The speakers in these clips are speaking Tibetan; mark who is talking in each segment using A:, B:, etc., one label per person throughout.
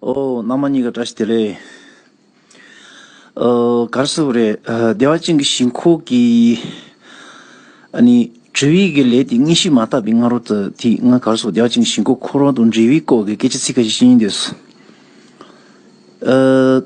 A: ཨོ། ནང་མ་གཉིས་ཀ་བཀྲ་ཤིས་བདེ་ལེགས། ག་རེ་ཟེར་བ་རེད། བདེ་བ་ཅན་གྱི་ཞིང་ཁོག་གི། ཨ་ནི། འབྲེལ་ཡིག་གི་ལས་དེ་གཉིས་ཤི་མ་ཐག་པའི་སྔ་རོལ་དུ་དེ་སྔ་ག་རེ་ཟེར་བ་བདེ་བ་ཅན་གྱི་ཞིང་ཁོག་ཁོ་རང་དང་འབྲེལ་བའི་སྐོར་གྱི་སྐད་ཆ་ཚིག་ཁ་ཤས་ཤེས་ཀྱིན་འདུག། ཨ།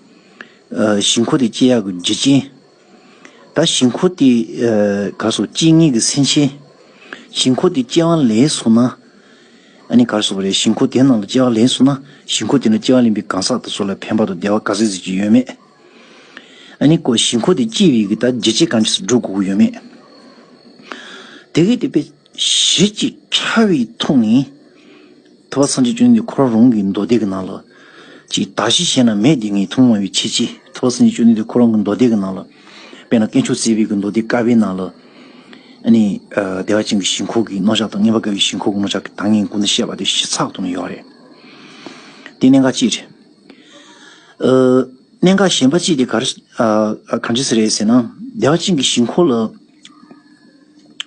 A: ཞིང་འཁོར་དེ་སྐྱེ་ཡག་གི་འཇིག་རྐྱེན། ད་ཞིང་འཁོར་དེ་གར་སོང་སྐྱེ་ངེས་ཀྱི་སེམས་ཅན། ཞིང་འཁོར་དེ་སྐྱེ་བ་ལེན་སོང་ན། ཨ་ནི་གར་སོང་བ་རེད་ཞིང་འཁོར་དེ་ནང་ལ་སྐྱེ་བ་ལེན་སོང་ན་ཞིང་འཁོར་དེ་ནང་སྐྱེ་བ་ལེན་པའི་གང་ཟག་དེ་ཚོ་ལ་ཕན་པ་དང་བདེ་བ་ག་ཟེ་ཟེར་གྱི་ཡོད་མེད། ཨ་ནི་ཞིང་འཁོར་དེ་སྐྱེས་པའི་གི་ད་འཇིག་རྐྱེན་གང་ཇི་སྲིད་འགྲོ་དགོས་ཀྱི་ཡོད་མེད། དེ་གས་དེ་དཔེ། གཞི་གཅིག་ཕྲ་བའི་ཐུགས་ནི། ཐུབ་པ་སངས་རྒྱས་བཅོས་ལྡན་འཁོར་རང་གི་མདོ་སྡེ་གི་ནང་ལ། ཅིག་གདགས་གཞི་གཞན་ན་མེད་དེ་ངེས་མཐོང་མངོན་བའི་ཕྱིར་གཅིག་ཐུབ་པ་སངས་རྒྱས་བཅོས་ལྡན་འདི་འཁོར་རང་གི་མདོ་སྡེ་གི་ནང་ལ། དཔེར་ན་སྐྱེ་མཆོག་རྩེ་དཔལ་གྱི་མདོ་སྡེ་དཀར་པོའི་ནང་ལ། ནི། བདེ་བ་ཅན་གྱི་ཞིང་ཁོག་གི་རྣོ་ལྕགས་དང་ངན་པ་དཀར་བའི་ཞིང་ཁོག་གི་རྣོ་ལྕགས་ཀྱི་དངས་སྙིགས་ཀུན་ནི་བཤད་པ་དེ་གཞི་ཚགས་ཐུགས་ན་ཡོད་རེད། དེ་གནད་འགག་ཅིག་རེད། གནད་འགག་གཞན་པ་ཅིག་དེ་ག་རེ། གང་ཅི་ཟེར་རེད་ཟེར་ན། བདེ་བ་ཅན་གྱི་ཞིང་ཁོག་ལ།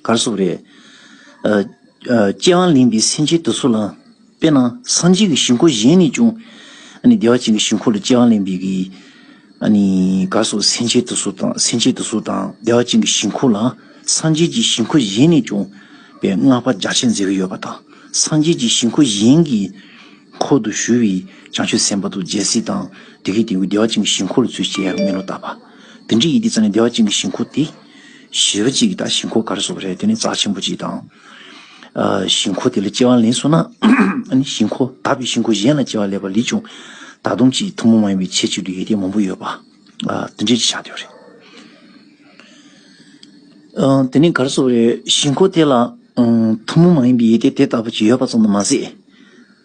A: གར་སོགས་རེད། ཀྱེ་མ་གླིང་པའི་སེམས་ཅན་དུ་སོགས་ལ། དཔེར་ན་སངས་རྒྱས་ཀྱི་ཞིང་འཁོར་གཞན་ནས་ཀྱང། བདེ་བ་ཅན་གྱི་ཞིང་འཁོར་ལ་ཀྱེ་མ་གླིང་པའི། གར་སོགས་སེམས་ཅན་དུ་སོགས་དང་སེམས་ཅན་དུ་སོགས་དང་བདེ་བ་ཅན་གྱི་ཞིང་འཁོར་ལ། སངས་རྒྱས་ཀྱི་ཞིང་འཁོར་གཞན་ནས་ཀྱང། པའི་བསྔགས་པ་རྒྱ་ཆེར་མཛད་ཀྱི་ཡོད་པ་དང། སངས་རྒྱས་ཀྱི་ཞིང་འཁོར་གཞན་གྱི། འཁོར་དུ་ཞུ་བའི་བྱང་ཆུབ་སེམས་དཔའ་རྡོ་རྗེ་སེམས་དང། དེ་ཀའི་དེ་ཀུན་བདེ་བ་ཅན་གྱི་ཞིང་འཁོར་ལ་ཚུལ་བཞིན་ཡང་མི་སློབ་ལྟ་བ། དེ་འདྲའི་ཡིད་བདེ་རྩ་ནས་བདེ་བ་ཅན་གྱི་ཞིང་ཁོག་སྟེ། ཞེས་པ་གཅིག་གིས་དང་ཞིང་ཁོག་གར་སོགས་པ་རེ་བཏོན་ནས་རྩ་ཆེན་པོ་གཅིག་དང། ཞིང་ཁོག་དེ་ལ་སྐྱེ་བ་ལེན་གསུངས་ན། ཞིང་ཁོག་དག་པའི་ཞིང་ཁོག་གཞན་ལ་སྐྱེ་བ་ལེན་པ་ལས་ཀྱང། ད་དུང་གཅིག་ཐུན་མོང་མ་ཡིན་པའི་ཆེས་གཅིག་ཏུ་ཡིད་བདེ་མང་པོ་ཡོད་པ། དེ་འདྲའི་ཆ་དེ་རེད། དེ་ནས་གར་སོགས་པ་རེ་ཞིང་ཁོག་དེ་ལ། ཐུན་མོང་མ་ཡིན་པའི་ཡིད་བདེ་དེ་ལྟ་བུ་གཅིག་ཡོད་པ་ཙམ་དུ་མ་ཟད།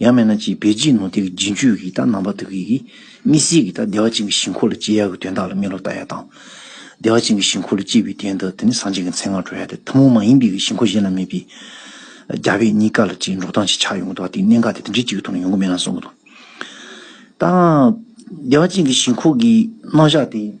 A: ཡང་མེད་ན་ཅི་བེ་ཅིའི་ནོར་དེ་གི་རྗེས་མཆོད་ཀྱི་རྟགས་རྣམ་པ་དག་གིས་མི་སྲིད་ཀྱི་རྟགས་བདེ་བ་ཅན་གྱི་ཞིང་འཁོར་ལ་སྐྱེ་ཡག་གི་དོན་དག་ལ་སྨིན་ལོག་ལྟ་ཡག་དང། བདེ་བ་ཅན་གྱི་ཞིང་འཁོར་ལ་སྐྱེ་བའི་དོན་དག་དེ་ནི་སངས་རྒྱས་ཀྱི་མཚན་སྔར་གྲོལ་ཡག་སྟེ་ཐུན་མོང་མ་ཡིན་པའི་གི་ཞིང་འཁོར་གཞན་ལ་མེད་པས། རྒྱ་བོད་གཉིས་ཀ་ལ་ཅིའི་འགྲོ་སྟངས་ཤིག་ཆགས་ཡོང་གི་འདུག་ཨ་ཏིའི་གནད་འགག་དེ་དེ་འདྲའི་གཅིག་གི་ཐོག་ནས་ཡོང་གི་མེད་ན་གསུང་གི་འདུག་ད། བདེ་བ་ཅན་གྱི་ཞིང་འཁོར་གྱི་རྣམ་གཞག་དེ།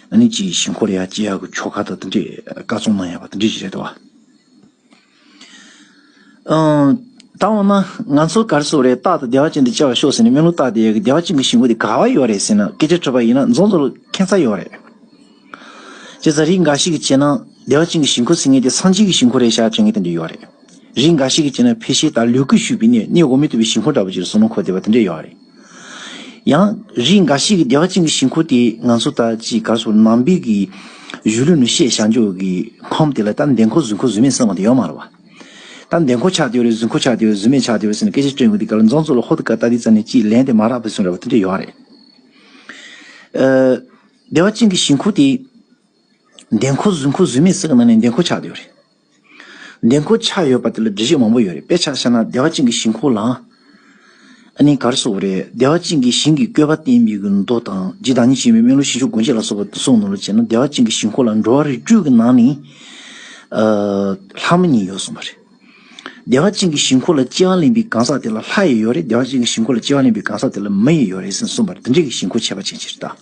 A: ཨ་ནི་ཅི་ཡིས་ཞིང་ཁོ་རེ་ཡ་སྤྱི་ཡག་གི་ཁྱོ་ག་དང་འདི་འདྲའི་བཀའ་བཙོང་གནང་ཡ་པ་འདི་འདྲས་ཞིག་རེད་དོ། ད་འོ་ན་ང་ཚོ་གར་སོ་རེ་སྟག་དང་སྡེ་བ་ཅན་དེ་བཅར་བར་ཤོག་ཟེར་ནས་སྨན་ལུག་སྟག་དེ་ཡ་གི་སྡེ་བ་ཅན་གི་ཞིང་ཁོ་དེ་ག་བ་ཡོད་རེད་ཟེར་ན་སྐད་ཆ་འཕྲོད་པ་ཡིན་ན་རྫོང་དུ་ཁེན་ཚ་ཡོད་རེད། ཅེས་ཟ་རིགས་འགའ་ཞིག་གི་བྱས་ན་སྡེ་བ་ཅན་གི་ཞིང་ཁོ་ཟེར་ངེས་དེ་སངས་རྒྱས་ཀྱི་ཞིང་ཁོ་རེད་ཤག་དྲན་ངེས་དེ་འདྲས་ཡོད་རེད། རིགས་འགའ་ཞིག་གི་བྱས་ན་ཕལ་ཤེ་ད་ལུས་ཀུ་ཤུ་བི་ནས་གནས་འོ་མི་ཐུབ་པའི་ཞིང་ཁོ་འདྲ་པོ་ཅིག་ལ་ཟུར་ནང་ཁོ་བསྡད་པ་དེ་འདྲས་ཡོད་རེད། ཡང། རིགས་འགའ་ཞིག་གིས་བདེ་བ་ཅན་གྱི་ཞིང་ཁོ་དེ་ང་ཚོ་ལྟར་ཅི་དགར་སོ་ནམ་འབིགས་ཀྱི་གཞུ་ལུས་ནུ་ཞེས་བྱ་འཇུག་གི་ཁམས་དེ་ལ་ལྟ་འདེད་འཁོར་གཟུགས་འཁོར་གཟུགས་མེད་གསང་བ་དེ་ཡོད་མ་རུང་བ། ལྟ་འདེད་འཁོར་ཆགས་དེ་ཡོད་རེད་གཟུགས་འཁོར་ཆགས་དེ་ཡོད་རེད་གཟུགས་མེད་ཆགས་དེ་ཡོད་རེད་ཟེར་ནས་སྐད་ཆ་སྤྲོད་མཁན་དེ་ག་ལ་རྫོང་གཙོ་ལ་ཧོ་ཏི་ཀ་ལྟ་དེ་ཙམ་ནས་ཅིས་ལན་དེ་མ་རག་པའི་གསུང་རེད་བ་དེ་འདྲ་ཡོད་རེད། བདེ་བ་ཅན་གྱི་ཞིང་ཁོ་དེ་འདེད་འཁོར་གཟུགས་འཁོར་གཟུགས་མེད་གསང་བ་ནི་འདེད་འཁོར་ཆགས་དེ་ཡོད་རེད། འདེམས་བསྐོ་ཆགས་ཡོད་པ་དེ་ལ་འགྲེལ་བཤད་མང་པོ་ཡོད་རེད་དཔེ་ཆ་བཤད་ན་བདེ་བ་ཅན་གྱི་ཞིང་ཁོག་ལའང་ཨ་ནི་གར་སོགས་རེད་བདེ་བ་ཅན་གྱི་ཞིང་གི་བཀོད་པ་བསྟན་མི་དགོས་མདོ་དང་རྗེ་བདག་ཉིད་ཆེན་པོའི་སྨན་ལུགས་ཞིང་ཆུ་དགོན་ཆས་ལ་སོགས་པ་གསུང་ནོར་ལ་བྱས་ན་བདེ་བ་ཅན་གྱི་ཞིང་ཁོག་ལ་འགྲོ་བ་རིགས་དྲུག་གི་ནང་ནས་ལྷ་མོ་གཉིས་ཡོད་གསུངས་པ་རེད། བདེ་བ་ཅན་གྱི་ཞིང་ཁོག་ལ་སྤྱི་དབང་ལེན་པའི་གང་ཟག་དེ་ལ་ལྷ་ཡི་ཡོད་རེད་བདེ་བ་ཅན་གྱི་ཞིང་ཁོག་ལ་སྤྱི་དབང་ལེན་པའི་གང་ཟག་དེ་ལ་མི་ཡི་ཡོད་རེད་ཟེར་གསུངས་པར་འདི་འདྲའི་གི་ཞིང་ཁོག་ཆད་པ་ཅན་ཅི་རེད་ད།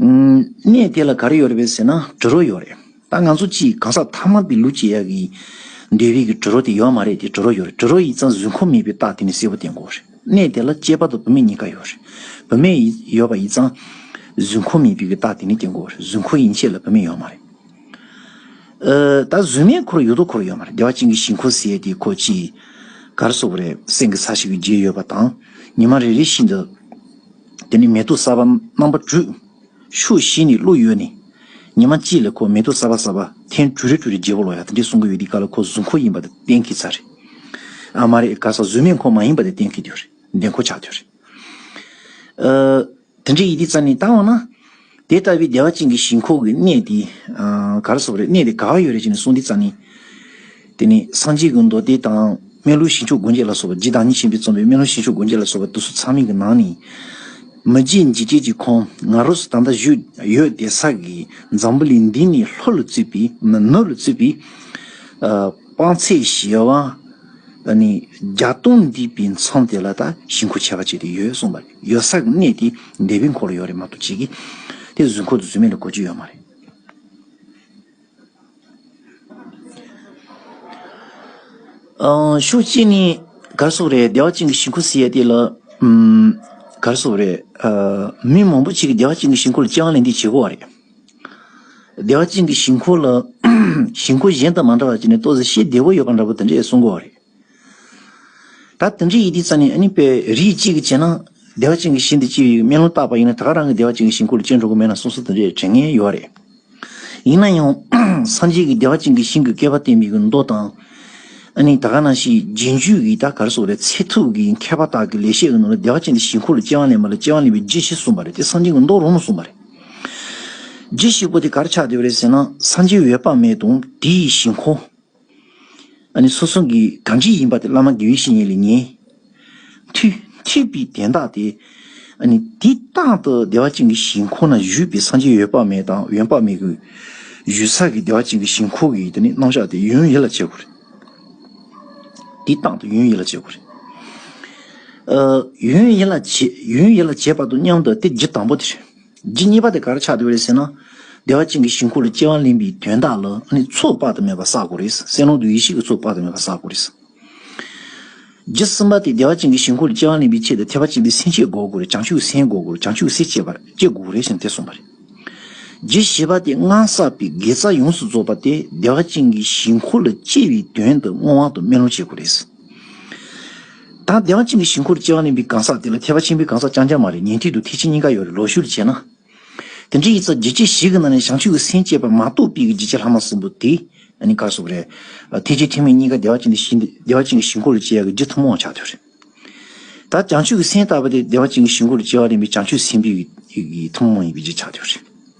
A: གནས་དེ་ལ་ག་རེ་ཡོད་རེད་བས་ཟེར་ན་དྲི་རོ་ཡོད་རེད། ད་ང་ཚོ་ཅིས་གང་ཟག་མཐའ་མ་དེ་ལུས་ཀྱི་ཡ་གི་འདོད་བས་ཀྱི་དྲི་རོ་དེ་ཡོད་མ་རེད་དེ་དྲི་རོ་ཡོད་རེད་དྲི་རོ་ཡིས་ཙང་བཟོད་ཁོམ་མེད་པའི་རྟགས་དེ་ནི་གསལ་བོ་དེ་འགོ་རེད་གནས་དེ་ལ་སྐྱེས་པ་དང་བུད་མེད་གཉིས་ཀ་ཡོད་རེད་བུད་མེད་ཡོད་པ་ཡིས་ཙང་བཟོད་ཁོམ་མེད་པའི་ཀྱི་རྟགས་དེ་ནི་དེ་འགོ་རེད་བཟོད་ཁོ་ཡིན་ཆད་ལ་བུད་མེད་ཡོད་མ་རེད། ད་བཟོད་མེད་ཁོ་ར་ཡོད་དོ་ཁོ་ར་ཡོད་མ་རེད་བདེ་བ་ཅན་གྱི་ཞིང་ཁོ་ཟས་དེ་ཁོ་ཅིས་ག་རེ་བཟོ་བ་རེད་སེང་གེ་ས་ཞིག་གི་རྗེས་ཡོད་པ་དང་ཉི་མ་རེ་རེ་བཞིན་དུ། དེ་ནི་མེ་དུ་གསར་པ་རྣམ་པ་འབྲུ། ཤུགས་བཞི་ནི་ཀླུ་ཡོད་ནི། ཉི་མ་གཅིག་ལས་ཁོ་མེ་དུ་གསར་པ་གསར་པ་ཐེངས་དྲུག་རེ་དྲུག་རེ་བརྗེ་བོ་ལོ་ཡ་དེ་འདྲས་གསུང་གི་ཡོད་དེ་ག་ལ་ཁོ་གཟུགས་འཁོར་ཡིན་པ་དེ་བསྟན་གི་ཚར་རེད། ཨ་མ་རེད་ག་ས་གཟུགས་མེད་འཁོར་མ་ཡིན་པ་དེ་བསྟན་གི་དུས་རེད་འདས་འཁོར་ཆགས་དུས་རེད། དེ་འདྲས་ཡིན་དེ་རྩ་ནས་བརྟག་འོང་ན། དེ་ལྟ་བུའི་བདེ་བ་ཅན་གྱི་ཞིང་ཁོག་གི་གནས་དེ་གར་སོགས་རེད་གནས་དེ་ག་བ་ཡོད་རེད་ཅེས་ནི་གསུངས་འདི་རྩ་ནི། དེ་ནི་སངས་རྒྱས་ཀྱི་མདོ་སྡེ་དང་སྨན་ལུགས་ཞིང་མཆོག་དགོན་བརྒྱད་ལ་སོགས་པ་རྗེ་བདག་ཉིད་གཤེན་པས་རྩོམ་པའི་སྨན་ལུགས་ཞིང་མཆོག་དགོན་བརྒྱད་ལ་སོགས་པ་དུ་སུ་ཚང་མིན་གྱི་ནང་ནས། མི་རྗེ་འཇིགས་བརྒྱད་ཀྱི་ཁོང་ང་རོ་སོ་ད་ལྟ་བཞུགས་ཡོད་དེ་ས་གི་འཛམ་བུ་ལས་འདི་ནི་ལྷོ་ལ་བཙུད་པའི་ནུབ་ལ་བཙུད་པའི། དཔང་ཚད་བཞི་བ། ནི་བརྒྱ་སྟོང་འདུས་པའི་མཚམས་དེ་ལ་ད་ཞིང་ཁོག་ཆེ་བ་བཅས་དེ་ཡོད་གསུངས་པ་རེད། ཡོད་ས་གནས་དེ་འདས་པོའི་འཁོར་ལོ་ཡོད་རེད་མ་གཏོགས་བྱེས་ཀྱི་དེ་བཟོས་འཁོར་དུ་བཟོས་མེད་ལ་གོ་རྒྱུ་ཡོད་མ་རེད། ཤོག་ཅེས་ནི་གར་སོགས་རེད་སྡེ་བ་གཅིག་གི་ཞིང་འཁོར་ཟེར་ཡས་དེ་ལ། གར་སོགས་རེད། མི་མང་པོ་ཅིག་གིས་སྡེ་བ་གཅིག་གི་ཞིང་འཁོར་ལ་སྤྱི་ཡང་ལན་འདེབས་བྱེད་དགོས་བ་རེད། སྡེ་བ་གཅིག་གི་ཞིང་འཁོར་ལ་ཞིང་འཁོར་གཞན་དང་མ་འདྲ་བ་ཅིག་ནི་ལྟོ་ཟ་ཤེས་བདེ་བོ་ཡོད་པ་འདྲ་པོ་དེ་འདྲས་གསུང་དགོས་བ་རེད། ད་དེ་འདྲའི་ཡིད་དེ་རྩ་ནས་ཨ་ནི་པའི་རིགས་གཅིག་གིས་བྱས་ན། བདེ་བ་ཅན་གྱི་ཞིང་དེ་སྤྱི་ཡི་མེ་ལོང་བཏགས་པ་ཡིན་ན་ད་ག་རང་གི་བདེ་བ་ཅན་གྱི་ཞིང་ཁུར་ལ་ཅི་འགྲོ་གི་མེད་ན་སོ་སོ་དེ་འདྲའི་དྲན་ངེས་ཡོད་རེད། ཡིན་ན་ཡང། སངས་རྒྱས་ཀྱི་བདེ་བ་ཅན་གྱི་ཞིང་གི་བསྐལ་པ་སྟེ་མིག་གི་མདོག་དང། ཨ་ནི་ད་ག་ན་ཞིག་རྗེས་འཇུག་གི་ད་གར་སོགས་ལས་ཚད་ཐུབ་ཀྱི་མཁས་པ་དག་གིས་ལེགས་བཤད་ཀྱི་ནང་ལ་བདེ་བ་ཅན་གྱི་ཞིང་ཁུར་ལ་སྐྱེ་བ་ལེན་པ་ལ་སྐྱེ་བ་ལེན་པའི་རྗེས་ཤེས་གསུངས་པ་རེད་དེ་སངས་རྒྱས་ཀྱི་མདོག་རང་ལ་གསུངས་པ་རེད། རྗེས་ཤེས་པོ་དེ་གར་ཆགས་བསྡད་པ་རེད་ཟེར་ན་སངས་རྒྱས་འོད་དཔག་མེད་དང་དེའི་ཞིང་ཁོ། སོ་སོ་གི་གང་ཅི་ཡིན་པ་དེ་བླ་མ་དགེ་བའི་བཤེས་གཉེན་ལས་ཉན། མཐུས། ཐེག་པའི་གདན་དག་སྟེ། འདི་རྟག་ཏུ་བདེ་བ་ཅན་གྱི་ཞིང་ཁོ་ན་བཞུགས་པའི་སངས་རྒྱས་ཡོད་དཔག་མེད་དང་ཡོན་དཔག་མེད་ཀྱི། ཡུལ་ས་གི་བདེ་བ་ཅན་གྱི་ཞིང་ཁོ་གིས་རྣམ་གཞག་དེ་ཡུན་ཡིད་ལ་བྱེད་དགོས། འདི་རྟག་ཏུ་ཡུན་ཡིད་ལ་བྱེད་དགོས། ཡུན་ཡིད་ལ་བྱེད་པ་དང་མཉམ་དུ་སྟེ་རྒྱུ་དང་པོ་དེ། རྗེ་གཉིས་པ་དེ་གར་ཕྱག་འདེབས་རེད་ཟེར་ན། བདེ་བ་ཅན་གྱི་ཞིང་ཁོ་ལ་སྐྱེ་བ་ལེན་པའི་དོན་དག་ལ་ནི་ཚོགས་དཔག་ཏུ་མེད་པ་བསགས་དགོས་རེད། སེམས་ཀློང་དུ་ཡེ་ཤེས་ཀྱི་ཚོགས་དཔག་ཏུ་མེད་པ་བསགས་དགོས་རེད། རྗེ་གསུམ་པ་དེ་བདེ་བ་ཅན་གྱི་ཞིང་ཁོ་ལ་སྐྱེ་བ་ལེན་པའི་ཆེད་དུ་ཐེག་པ་ཆེན་པོའི་སེམས་བསྐྱེད་དགོས་དགོས་རེད་བྱང་ཆུབ་སེམས་དགོས་དགོས་རེད་བྱང་ཆུབ་སེམས་བསྐྱེད་པར་སྐྱེ་དགོས་རེད་ཞེས་དེ་གསུངས་པ་རེད། རྗེ་བཞི་པ་དེ་སྔར་བསགས་པའི་དགེ་རྩ་ཡོངས་སུ་རྫོགས་པ་དེ་བདེ་བ་ཅན་གྱི་ཞིང་ཁོ་ལ་སྐྱེ་བའི་དོན་དུ་སྔོན་དབང་དུ་སྨོན་ལམ་བྱེད་དགོས་རེད། ད་དེ་འང་ཅི་འདི་ཞིང་འཁོར་ལྕི་བ་ནི་པའི་གང་ཟག་དེ་ལ་ཐེག་པ་ཆེན་པོའི་གང་ཟག་རྐྱང་རྐྱང་མ་རེད་ཉན་ཐོས་དུ་ཐེག་ཆེན་གཉིས་ཀ་ཡོད་རེད་ལོག་ཞུགས་བྱས་ན། དེ་འདྲའི་ཡིག་ཚགས་བརྒྱད་ཁྱི་ཞིག་གི་ནང་ནས་བྱང་ཆུབ་ཀྱི་སེམས་བསྐྱེད་པ་མ་གཏོགས་དཔེ་གྱི་བརྗིད་ཆེ་ལྷག་མ་གསུམ་པོ་དེ་ནི་དཀར་སོག་རེད། ཐེག་ཆེན་ཐེག་མེད་གཉིས་ཀ་བདེ་བ་ཅན་གྱི་བདེ་བ་ཅན་གྱི་ཞིང་འཁོར་ལྕི་བ་གི་རྗེས་ཐུན་མོང་ཆགས་ཐོན་རེད། ད་བྱང་ཆུབ་ཀྱི་སེམས་བཏགས་པ་དེ་བདེ་བ་ཅན་གྱི་ཞིང་འཁོར་ལྕི་བ་རིམ་པའི་བྱང་ཆུབ་སེམས་དཔའི་ཐུན་མོང་ཡིན་པའི་རྗེས་ཆགས་ཐོན་རེད།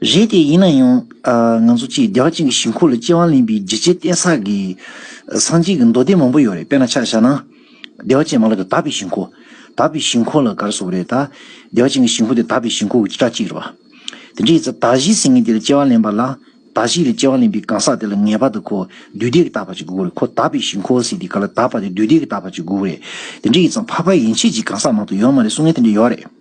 A: རེད་དེ་ཡིན་ན་ཡང། ང་ཚོ་སྤྱིར་བདེ་བ་ཅན་གྱི་ཞིང་ཁོག་ལ་སྐྱེ་བ་ལེན་པའི་བརྗིད་ཆེའི་རྟེན་ས་གི། སངས་རྒྱས་ཀྱི་མདོ་སྡེ་མང་པོ་ཡོད་རེད་དཔེར་ན་ཆ་བཞག་ན། བདེ་བ་ཅན་མ་ལ་ཀི་དག་པའི་ཞིང་ཁོག། དག་པའི་ཞིང་ཁོག་ལ་གར་སོགས་རེད་ད། བདེ་བ་ཅན་གྱི་ཞིང་ཁོག་དེ་དག་པའི་ཞིང་ཁོག་གི་བྱེ་བྲག་ཅིག་རེད་བ། དེ་འདྲའི་ཚེ་དག་གཞིའི་སེངྒེ་དེ་ལ་སྐྱེ་བ་ལེན་པ་ལ། དག་གཞི་ལ་སྐྱེ་བ་ལེན་པའི་གང་ཟག་དེ་ལ་ངེས་པར་དུ་ཁོ་བདུད་སྡེ་གི་དག་པ་ཅིག་དགོས་རེད་ཁོ་དག་པའི་ཞིང་ཁོག་ཟེར་དེ་ག་ལ་དག་པ་དེ་བདུད་སྡེ་གི་དག་པ་ཅིག་དགོས་རེད། དེ་འདྲའི་ཚེ་ཕ་ཕ་ཡན་ཆད་ཀྱི་གང་ཟག་མང་དུ་ཡོད་མ་རེད་གསུང་ངན་དེ་འདྲ་ཡོད་རེད།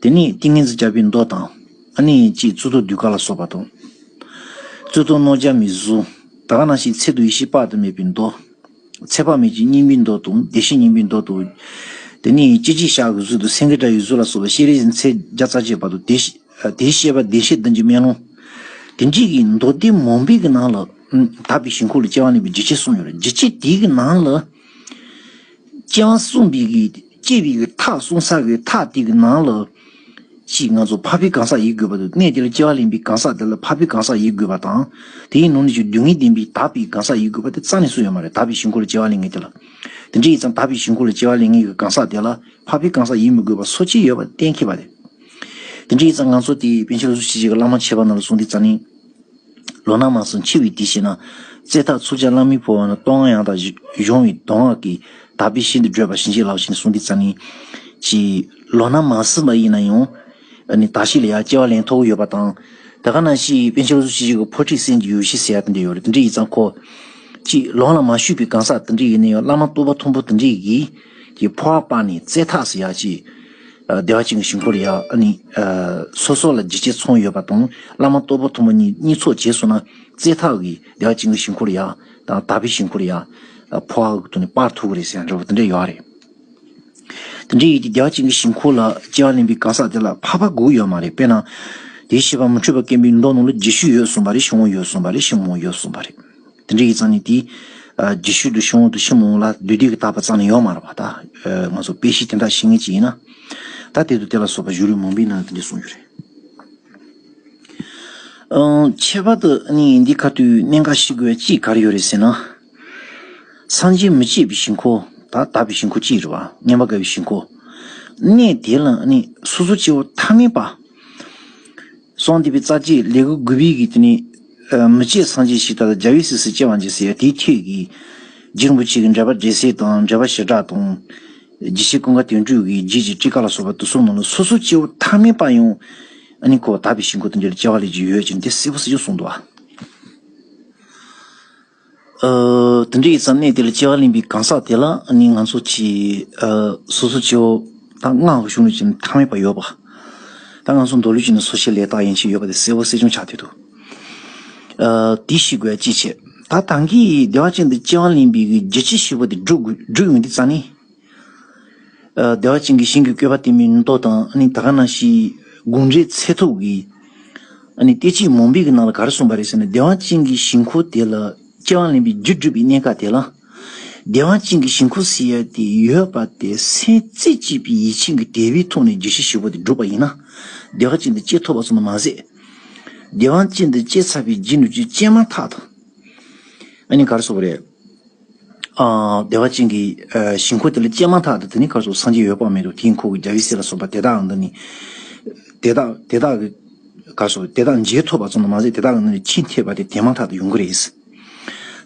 A: དེ་ནས་ཏིང་ངེ་འཛིན་ལྕགས་ཕུད་མདོག་དང། ཨ་ནི་གཅིག་བཙུད་དོ་དུད་ཀ་ལ་སོགས་པ་དང། བཙུད་དོ་རྣོ་སྦྱར་མི་བཟོ། ད་ག་ན་ཞིག་ཚད་དུ་ཡེ་ཤེས་དཔག་ཏུ་མེད་པའི་མདོག། ཚད་དཔག་མེད་ཀྱི་སྙིང་པོའི་མདོག་དང་བདེ་གཤེགས་སྙིང་པོའི་མདོག་དང། དེ་ནས་ལྕེ་གཅིག་ཤ་གི་གཟུགས་དང་སེང་གེ་སྒྲ་ཡི་གཟུགས་ལ་སོགས་པ་ཤེས་རིག་ཚད་བརྒྱ་རྩ་བརྒྱད་བར་དུ་དེའི་ཤེས་པ་བདེ་གཤེགས་བདུན་གྱི་སྨན་ལོང། དེ་འདྲིས་ཀྱི་མདོག་དེའི་མོ་འབིགས་ཀྱི་ནང་ལ། དག་པའི་ཞིང་ཁུག་ལ་སྐྱེ་བ་གནས་པའི་འཇིགས་བྱེད་གསུམ་ཡོད་ལ་འཇིགས་བྱེད་དེའི་ནང་ལ། ཅེའང་གསུངས་པའི་གི་ཅེས་པའི་གི་ཐག་གསུང་ཚར་བའི་ཐག་དེ་གི་ནང་ལ། ཅེས་ང་ཚོ་ཕ་བོའི་གང་ཟག་ཡིན་དགོས་པ་དང་གནས་དེ་ལ་སྐྱེ་བ་ལེན་པའི་གང་ཟག་དེ་ལ་ཕ་བོའི་གང་ཟག་ཡིན་དགོས་པ་དང། དེའི་ནང་ནས་ཀྱང་སྡུག་བསྔལ་བདེན་པའི་དག་པའི་གང་ཟག་ཡིན་དགོས་པ་དེ་རྩ་ནས་སུ་ཡང་མ་རེད་དག་པའི་ཞིང་འཁོར་ལ་སྐྱེ་བ་ལེན་མཁན་དེ་ལ། དེ་འདྲའི་ཡིན་ཙང་དག་པའི་ཞིང་འཁོར་ལ་སྐྱེ་བ་ལེན་མཁན་གི་གང་ཟག་དེ་ལ་ཕ་བོའི་གང་ཟག་ཡིན་མི་དགོས་པ་སོ་གཅིག་ཡོད་པ་གཏན་འཁེལ་བ་རེད། དེ་འདྲའི་ཡིན་ཙང་ང་ཚོ་དེ་བན་ཆེན་རུ་སུ་ཆེ་བྱེས་ཀྱི་བླ་མ་ཆེ་བ་རྣམས་ལ་གསུང་དེ་རྩ་ནས། ལོ་ན་མང་སོང་འཆི་བའི་དུས་ཤེས་ན། བཙས་ཐག་ཚུགས་ཅག་གླང་མི་ཕོ་བ་ན་སྟོང་ང་ཡང་དག་གཞོང་བའི་མདོ་སྔགས་ཀྱི་དག་པའི་ཤིན་ཏུ་བགྲོད་པ་བྱིན་གྱིས་བརླབས་ཤིང་གསུང་གི་རྩ་ནི། ཅེས། ལོ་ན་མ་སོན་པ་ཡིན་ན་ཡང། ནི་དག་ཤེས་ལ་ཡང་སྐྱེ་བ་ལན་ཐོག་ཡོད་པ་དང། དེ་ག་ན་ཞིག་དཔལ་ཆེན་རོ་ཟུ་ཆེ་གཅིག་གི་ཕོ་ཁྲིད་སེམས་ཀྱི་ཡུལ་ཞེས་ཟེར་ཡ་དེ་འདྲ་ཡོད་རེད་དེ་འདྲ་ཡིན་ཙང་ཁོ། ཅི། ལོང་ལ་མ་བཞུད་པའི་གང་ཟག་དེ་འདྲ་ཡིན་ན་ཡང་བླ་མ་བསྟོད་པ་མཐོན་པོ་དེ་འདྲ་ཡིས། ཀྱི་ཕོ་བ་སྤངས་ནས་བཙས་ཐག་ཟེར་ཡ་ཅེས། བདེ་བ་ཅན་གྱི་ཞིང་ཁོར་ཡག་ནི། སོ་སོ་ལ་འཇིགས་བྱེད་ཚོང་ཡོད་པ་དང་བླ་མ་གཏོ་བུ་ཐུ་མོ་གཉིས་ཚོགས་བྱས་སོང་ན་རྩེ་ཐག་གིས་བདེ་བ་ཅན་གྱི་ཞིང་ཁོར་ཡག་དང་དག་པའི་ཞིང་ཁོར་ཡག་ཕོ་ཨ་གཏོ་ནི་པར་ཐུག་གི་རེད་ཟེར་ཡང་འདྲ་བོ་དེ་འདྲ་ཡོད་རེད། དེ་འདྲའི་ཡོད་དེ་བདེ་བ་ཅན་གྱི་ཞིང་ཁོར་ལ་སྐྱེ་བ་ལེན་པའི་ག་ས་དེ་ལ་ཕ་ཕ་གུག་ཡོད་མ་རེད་དཔེ་ན། དེའི་བྱེད་པ་མུ་འཁྲུལ་བ་སྐེམ་པའི་མདོག་ནང་ལ་རྗེས་ཤུལ་ཡོད་གསུངས་པ་རེད་ཤུག་མོ་ཡོད་གསུངས་པ་རེད་ཤུག་མོ་ཡོད་གསུངས་པ་རེད། དེ་འདྲ་ཡིག་ཚང་ནི་དེ། རྗེས་ཤུལ་དུ་ཤོང་འོག་ཏུ་ཤི་མོང་ལ་བདུད་སྡིག་གི་བཏགས་པ་ཙམ་ལས་ཡོག་མ་རག་པ་ད། ང་ཚོ་དཔེ་གཞི་དེ་འདྲ་ཤེས་ངེས་ཅི་ཡིན་ན། ད་དེ་དུ་དེ་ལ་སོགས་པ་བཞུགས་རིགས་མང་པོའི་ནང་དེ་འདྲས་གསུངས་ཡོད་རེད། ཁྱད་པར་དུ་ནི་འདི་ག་དུས་གནས་འགའ་ཞིག་གི་དཔྱིད་ཀར་ཡོད་རེད་ཟེར་ན། སངས་རྒྱས་མི་མཇེད་པའི་ཞིང་ཁོ། ད་དག་པའི་ཞིང་ཁོ་ཅི་ཡིན་རེད་བ། སྙན་པ་དགའ་བའི་ཞིང་ཁོ། གནས་དེ་ལ་ནི་སོ་སོ་སྐྱེ་བོ་ཐ་མལ་པ། སོང་དེ་བས་རྩ་ཆེའི་ལས་ཀུན་དགོས་པའི་དེ་ནི་མི་ཆེས་སངས་རྒྱས་ཞིག་ད་ལྟ་རྒྱ་བས་སིག་སིག་ཅེས་པ་འཇིགས་སེ་དེའི་ཁྱེད་ཀྱིས། རྗེ་རིན་པོ་ཆེ་གི་འགྲེལ་པ་འགྲེལ་སེ་དང་འགྲེལ་པ་ཞེ་དྲག་དང། རྗེ་ཞེས་ཀུན་དགའ་དོན་གྲུབ་ཀྱིས་རྗེས་ཀྱི་ཀྲི་ཀ་ལ་སོགས་པ་དུ་གསུམ་མ་ལུས་སོ་སོ་སྐྱེ་བོ་ཐ་མལ་པ་ཡང་ནི་ཁོ་བོ་དག་པའི་ཞིང་ཀུན་ཏུ་འདིར་སྐྱེ་བ་ལས་ཀྱི་ཡོད་ཅེས་འདི་གསལ་པོ་སེ་ཅུང་གསུངས་འདུག། དེ་འདྲའི་ས་གནས་དེ་ལ་སྤྱི་བ་ལེན་པའི་གང་ཟག་དེ་ལ་ནི་ང་ཚོ་ཆེས་སོ་སོ་སྤྱི་བོ་དང་ངག་གི་གཞུང་ལུགས་ཀྱི་མཐའ་མེད་པ་ཡོད་པ། ད་ང་ཚོ་མདོ་ལུགས་ཀྱི་ནི་སོ་ཤེས་ལས་དག་ཡིན་ཞེས་ཡོད་པ་དེ་གསལ་བོ་གསལ་ཆུང་ཆགས་བསྡད་འདུག་དེ་ཤི་དགོས་ཅི་བྱེད། ད་ད་གིས་བདེ་བ་ཅན་དུ་སྤྱི་བ་ལེན་པའི་རྒྱུ་ཅི་ཞིག་པོ་དེ་བསྒྲུབ་ཡོང་དུས་རྩ་ནས། བདེ་བ་ཅན་གྱི་ཞིང་གི་བཀོད་པ་སྟེ་མིའི་ནུ་ཏོ་དང་ད་ག་ན་ཤི་དགུན་རེ་ཚེ་ཐུག་གི། སྟེ་ཅི་མུན་པའི་ནང་ལ་ག་རེ་གསུངས་པ་རེད་ཟེར་ན་བདེ་བ་ཅན་གྱི་ཞིང་ཁུ་དེ་ལ་སྐྱེ་བ་ལེན་པའི་རྒྱུ་སྒྲུབ་པའི་གནས་ཀ་དེ་ལ། བདེ་བ་ཅན་གྱི་ཞིང་ཁུ་ཟེར་ཡ་དེ་ཡོད་པ་དེ་སེམས་རྩེ་གཅིག་པའི་ཡིད་བྱིན་གྱི་དད་པའི་ཐུགས་ནས་རྒྱུ་བཞི་བཞི་པོ་དེ་སྒྲུབ་པ་ཡིན་ན། བདེ་བ་ཅན་དུ་སྐྱེ་ཐུབ་པ་སོགས་ནི་མ་ཟད། བདེ་བ་ཅན་དུ་སྐྱེ་ཚར་བའི་རྗེས་འགྲོ་རྒྱུ་སྤྱད་མ་ཐག་ཏུ། ག་རེ་གསུངས་པ་རེད། བདེ་བ་ཅན་གྱི་ཞིང་འཁོར་དེ་ལ་སྐྱེས་མ་ཐག་ཏུ་དེ་ནི་གར་སོགས་སངས་རྒྱས་ཡོད་པར་མི་འདུག་དེའི་འཁོར་གྱི་རྒྱ་བཞི་སྲིད་ལ་སོགས་པ་དེ་དག་འདི་ནི། དེ་དག་དེ་དག་གི། གར་སོགས་དེ་དག་མཇལ་ཐུབ་པ་ཙམ་དུ་མ་ཟད་དེ་དག་གི་ནང་ནས་ཕྱིས་འཐད་པ་དེ་དེ་མ་ཐག་ཏུ་ཡོང་གི་རེད།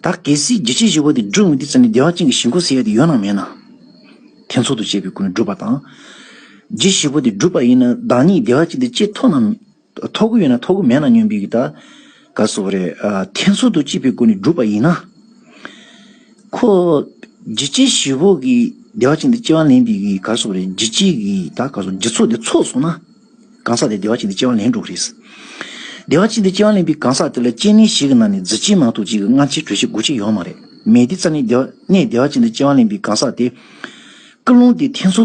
A: ད་གལ་སྲིད་རྒྱལ་སྤྱིའི་བཞི་བོ་དེ་སྒྲུབ་ངེས་དེ་ཙམ་ནས་བདེ་བ་ཅན་གྱི་ཞིང་འཁོར་ཟེར་ཡ་དེ་ཡོད་ནམ་མེད་ནམ། ཐེ་ཚོམ་དུ་བཅད་པའི་སྒོ་ནས་སྒྲུབ་པ་དང། རྒྱུད་བཞི་བོ་དེ་སྒྲུབ་པ་ཡིན་ན་བདག་ཉིད་བདེ་བ་ཅན་དེ་སྐྱེས་ཐུབ་ནམ། ཐོ་གུ་ཡོད་ན་ཐོ་གུ་མེད་ན་སྨྱོན་འབིག་གི་ད་ག་ཟོ་བ་རེད། ཐེ་ཚོ་དུ་གཅིག་པའི་སྒོ་ནས་བསྒྲུབ་པ་ཡིན་ན། ཁོ་འཇི་སྐྱེ་བཞི་བོ་གི་བདེ་བ་ཅན་དེ་སྐྱེ་བ་ལེན་འབིག་གི་ག་ཟོ་བ་རེད་འཇི་སྐྱེ་གི་ད་ག་ཟོ་འཇི་ཚོགས་དེ་ཚོགས་སོང་ན། གང་ཟག་དེ་བདེ་བ་ཅན་དེ་སྐྱེ་བ་ལེན་འགྲོ་གི་རེད། བདེ་བ་ཅན་དེ་སྐྱེ་བ་ལེན་འབིག་གང་ཟག་དེ་ལ་སྐྱེ་གནས་ཞིག་གི་ནང་ནས་རྫི་སྐྱེ་མང་ཐུག་ཅིག་གི་སྔ་ཕྱིར་གྲོལ་བྱེད་དགོས་ཆེད་ཡོང་མ་རེད་མེད་དེ་རྩ་ནས་བདེ་བ་ཅན་དེ་སྐྱེ་བ་ལེན་འབིག་གང་ཟག་དེ། སྐུ་རླུང་དེ་ཐེ་ཚོ་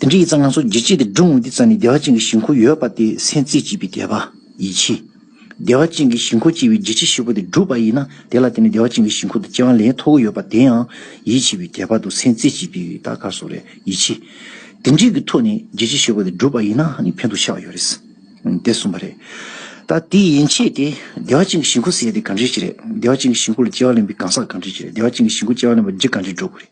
A: དེ་འདྲའི་ཡིག་ཚང་ང་ཚོ་བརྗེ་བྱས་ཏེ་སྒྲུང་འདི་ཙམ་ནི་བདེ་བ་ཅན་གྱི་ཞིང་ཁོ་ཡོད་པ་དེ་སེམས་རྩེ་གཅིག་པའི་དད་པ་ཡིད་ཆེས། བདེ་བ་ཅན་གྱི་ཞིང་ཁོ་སྐྱེ་བའི་བརྗེད་བྱེད་ཧྲིལ་པོ་དེ་བསྒྲུབས་པ་ཡིན་ན་དེ་ལ་བརྟེན་ནས་བདེ་བ་ཅན་གྱི་ཞིང་ཁོ་དང་སྐྱེ་བ་ལེན་ཐོགས་གི་ཡོད་པ་དེའང་ཡིད་ཆེས་པའི་དད་པ་དང་སེམས་རྩེ་གཅིག་པའི་བདག་ག་སོགས་རེད་ཡིད་ཆེས། དེ་འདྲིའི་གི་ཐོག་ནས་བརྗེད་བྱེད་ཧྲིལ་པོ་དེ་བསྒྲུབས་པ་ཡིན་ན་ཧ་ནི་ཕན་ཐོགས་ཆགས་ཡོད་རེད། དེ་གསུམ་པ་རེད། ད་དེ་ཡན་ཆད་དེ། བདེ་བ་ཅན་གྱི་ཞིང་ཁོ་ཟེར་ཡས་དེ་གང་འདྲིའི་ཞིག་རེད། བདེ་བ་ཅན་གྱི་ཞིང་ཁོ་ལ་སྐྱེ་བ་ལེན་པའི་གང་ཟག་གང་འདྲིའི་ཞིག་རེད། བདེ་བ་ཅན་གྱི་ཞིང་ཁོ་སྐྱེ་བ་ལེན་པར་བརྗེད་གང་འདྲིའི་འགྲོ་དགོས་རེད།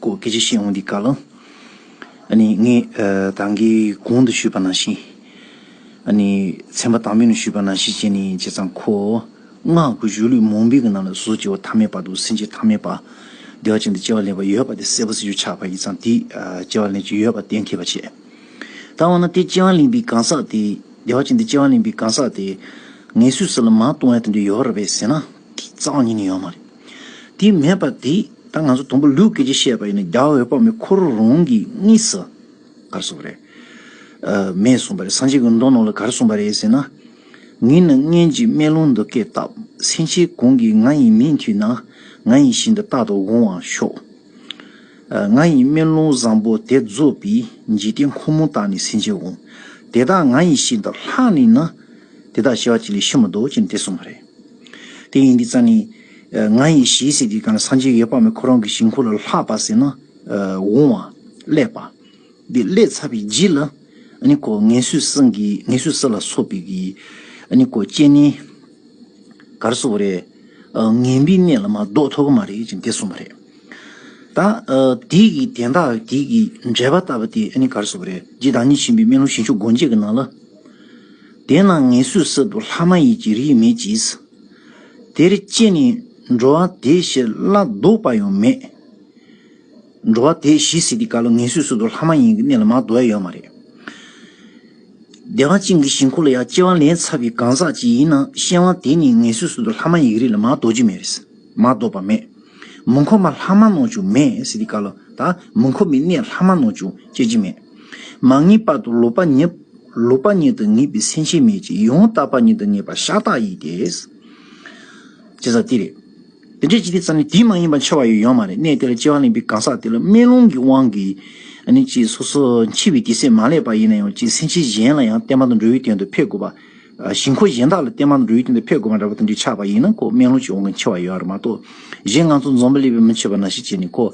A: ཀོ་སྐད་ཆ་བཤད་འོང་འདི་ག་ལ། ངས་དང་གི་གོང་དུ་ཞུས་པ་ནང་བཞིན། ཚན་པ་དང་པོ་ནས་ཞུས་པ་ནང་བཞིན་བྱས་ནས་བྱས་ཙང་ཁོ། སྔགས་ཀྱི་གཞུ་ལུས་མུན་པའི་ནང་ལ་བཟོ་བྱེད་བ་ཐ་མའི་བར་དུ་སེམས་ཅན་ཐ་མའི་བར། བདེ་བ་ཅན་དུ་སྐྱེ་བ་ལེན་པ་ཡོད་པ་དེ་གསལ་པོ་གསལ་རྒྱུ་ཆགས་པ་ཡིན་ཙང་དེས་སྐྱེ་བ་ལེན་གྱི་ཡོད་པ་གཏན་འཁེལ་བ་བྱས། ད་འོ་ན་དེ་སྐྱེ་བ་ལེན་པའི་གང་ཟག་དེ། བདེ་བ་ཅན་དུ་སྐྱེ་བ་ལེན་པའི་གང་ཟག་དེ། ངལ་གསོའི་ས་ལ་མ་ལྟུང་བ་དེ་འདྲ་ཡོད་རབས་པས་ཟེར་ན། གི་གཙང་སྙིང་ནི་ཡོད་མ་རེད། དེ་མེད་པ་དེ་ད་ང་ཚོ་དང་པོ་ལུགས་སྐད་ཀྱི་བཤད་པ་ཡིན་ན་རྒྱ་འོད་དཔག་མེད་ཁོ་རང་རང་གིས་གཉིས་སུ་གར་སོང་བ་རེད། མེད་གསུངས་པ་རེད་སངས་རྒྱས་ཀྱི་མདོ་ནང་ལ་གར་སོང་བ་རེད་ཟེར་ན། ངའི་ནང་བརྙན་གྱི་སྨན་ལུང་འདི་སྐད་བཏབ་སེང་ཆེན་གང་གིས་ང་ཡི་མིག་མཐུད་ན་ང་ཡིན་བཞིན་དུ་རྟག་ཏུ་འོང་བར་ཤོག། ང་ཡི་སྨན་ལུང་བཟང་པོ་དེ་རྫོགས་པའི་འཇིག་རྟེན་ཁོ་མོ་དག་ནི་སེང་ཆེན་འོང་དེ་དག་ང་ཡིན་བཞིན་དུ་ལྷགས་ནས་ན། དེ་དག་བྱ་བ་གཅིག་ལས་ཕྱི་མི་ལྡོག་ཅིང་དེ་སོང་བ་རེད། དེ་ཡིན་གྱི་རྩ་ནི། ང་ཡི་ཞེས་ཟེར་གྱི་གང་ལ་སངས་རྒྱས་ཡོད་པ་མེད་ཁོ་རང་གི་ཞིང་ཁོ་ལ་ལྷགས་པ་ཟེར་ན་འོང་བ། བསླད་པ། འདི་བསླད་ཚར་བའི་རྗེས་ལ་ནི་ཀོ་ངན་སོས་སངས་ཀྱི་ངན་སོས་ས་ལ་སོགས་པའི་གི་ནི་ཀོ་སྐྱེས་ནི། གར་སོགས་པ་རེད། ངན་པའི་གནས་ལ་མ་ལྡོག་ཐོག་མ་རེད་ཅེས་འདི་གསུངས་པ་རེད། ད་དེའི་གི་དན་རྟགས་དེའི་གི་འགྲེལ་པ་བཏབ་པ་དེ་ནི་གར་སོགས་པ་རེད། རྗེ་བདག་ཉིད་ཕྱིན་པའི་སྨན་ལུང་ཞིང་མཆོག་སྒོ་འབྱེད་ཀྱི་ནང་ལ། དེས་ན་ངལ་བསོའི་གསེབ་ཏུ་ལྷ་མ་ཡིན་གྱི་རིས་མེད་ཀྱིས། དེར་སྐྱེས་ནས་འགྲོ་བ་དེ་ཞི་ལ་ལྡོག་པ་ཡང་མེད། འགྲོ་བ་དེ་ཞི་སྲིད་དེ་ག་ལ་ངལ་བསོའི་གསེབ་ཏུ་ལྷ་མ་ཡིན་གྱི་གནས་ལ་མ་དོ་ཡ་ཡོད་མ་རེད། བདེ་བ་ཅན་གྱི་ཞིང་ཁོ་ལ་ཡང་སྐྱེ་བ་ལན་ཚ་བའི་གང་ཟག་ཅིག་ཡིན་ན་གཤེན་བ་དེ་ནི་ངལ་བསོའི་གསེབ་ཏུ་ལྷ་མ་ཡིན་གྱི་རིས་ལ་མ་དོ་རྒྱུ་མེད་རེད། མ་བདོག་པ་མེད། མུ་འཁོར་མ་ལྷག་མ་ནོར་བྱུང་མེད་སི་ཏི་ཀ་ལོ་དང་མུ་འཁོར་མི་གནས་ལྷག་མ་ནོར་བྱུང་སྐྱེ་འཆི་མེད། མ་ངེས་པར་དུ་ལོག་པ་ཉིད། ལོག་པ་ཉིད་དུ་ངེས་པའི་སེམས་ཅན་མེད་ཅིང་ཡང་དག་པར་ཉིད་དུ་ངེས་པ་ཤ་སྟག་ཡིན་ཏེ། ཅི་ཟག་དེ་རེད། དེ་འདྲའི་ཅི་སྟེ་ཙམ་ནས་དེ་མ་ཡིན་པར་འཆི་བ་ཡོད་ཡོད་མ་རེད་གནས་དེ་ལ་སྐྱེ་བ་ལེན་པའི་གང་ཟག་དེ་ལ་དམན་ལུང་གི་དབང་གིས་ནི་ཅི་སོ་སོ་འཆི་བའི་དེ་སེམས་མ་བསླད་པ་ཡིན་ན་ཡང་ཅི་སེམས་ཅན་གཞན་ལ་ཡང་བསྟན་པ་དང་འགྲོ་བའི་དོན་དུ་ཕེབས་དགོས་པ། ཞིང་ཁོ་གཞན་དག་ལ་བརྟེན་མར་འགྲོ་ཡུལ་དེ་འདིར་ཕེབས་དགོས་པ་འདྲ་བ་དེ་འདྲའི་ཆགས་པ་ཡིན་ན་ཁོ་སྨན་ལུང་ཅིག་འོང་མཁན་ཆེ་བ་ཡོད་རེད་མ་གཏོགས་གཞན་ང་ཚོ་འཛོམས་པ་ལས་པའི་མི་ཆེ་བ་ན་ཞིག་བྱས་ནས་ཁོ།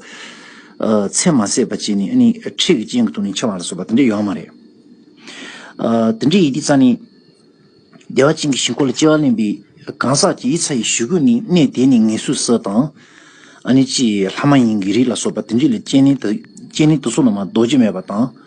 A: མཚན་མ་བསྲེགས་པ་བྱས་ནས་ཨ་ནི་ཁྲིད་ཀྱི་སྤྱན་གྱི་ཐུགས་ནས་འཆི་བ་ལ་སོགས་པ་དེ་འདྲ་ཡོད་མ་རེད། དེ་འདྲའི་ཡི་གེ་རྩ་ནི། བདེ་བ་ཅན་གྱི་ཞིང་ཁོ་ལ་སྐྱེ་བ་གླེང་བའི་གང་ཟག་ཅིག་ཡིད་ཚ་ཡི་ཞུ་གུ་ནི་གནས་དེ་ནས་ངེས་སུ་སྲིད་དང། ཨ་ནི་ཅི་ལྷ་མ་ཡིན་གྱི་རིགས་ལ་སོགས་པ་དེ་འདྲས་ལས་སྤྱན་ནི་དུ་སོ་ནང་མ་རྡོ་རྗེ་མེད་པ་དང།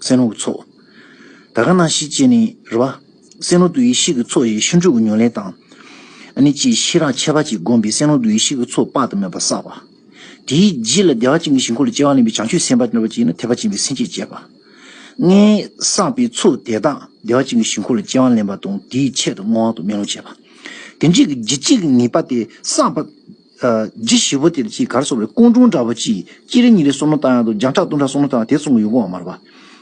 A: སེམས་ལུགས་ཚོགས། ད་ག་ན་ཤི་ལྕེ་ནི་རི་བ། སེམས་ལུགས་དུ་ཡེ་ཤེས་ཀྱི་ཚོགས་ཞེས་ཤིང་དྲུག་གི་ཉོན་ལེན་དང། ནི་ཅེས་ཤེས་རང་ཁྱད་པར་གྱིས་བསྒོམས་པས་སེམས་ལུགས་དུ་ཡེ་ཤེས་ཀྱི་ཚོགས་དཔག་ཏུ་མེད་པ་བསགས་པ། དེའི་རྗེས་ལ་བདེ་བ་ཅན་གྱི་ཞིང་འཁོར་ལོ་བཅཝ་བ་ལེན་པའི་བྱང་ཆུབ་སེམས་དཔའ་སྟོན་པ་གཅིག་ནི་ཐེག་པ་ཆེན་པོའི་སེམས་བསྐྱེད་ཅེས་པ། ལྔའི་བསགས་པའི་ཚོགས་དེ་དག་བདེ་བ་ཅན་གྱི་ཞིང་འཁོར་ལོ་བཅཝ་བ་ལེན་པ་དང་དེའི་ཆེད་དུ་བསྔོ་བ་དང་སྨོན་ལམ་བྱེད་པ། དེ་འབྲས་ཀྱི་རྒྱུ་གཅིག་ངེས་པ་དེ་བསགས་པ། རྗེ་ཞི་བ་དེར་ཅིག་གར་སོང་བའི་ཀོང་ཀྲུང་འདྲ་བོ་ཅིག་སྐྱིད་རེ་ཉིན་རེ་སོང་ན་བཏང་ཡང་དུ་རྒྱང་ཕྲག་སྟོང་ཕྲག་སོང་ན་བཏང་ཡང་དེ་ཚོང་གི་ཡོང་ཁོ་བ་མ་རེད་པ།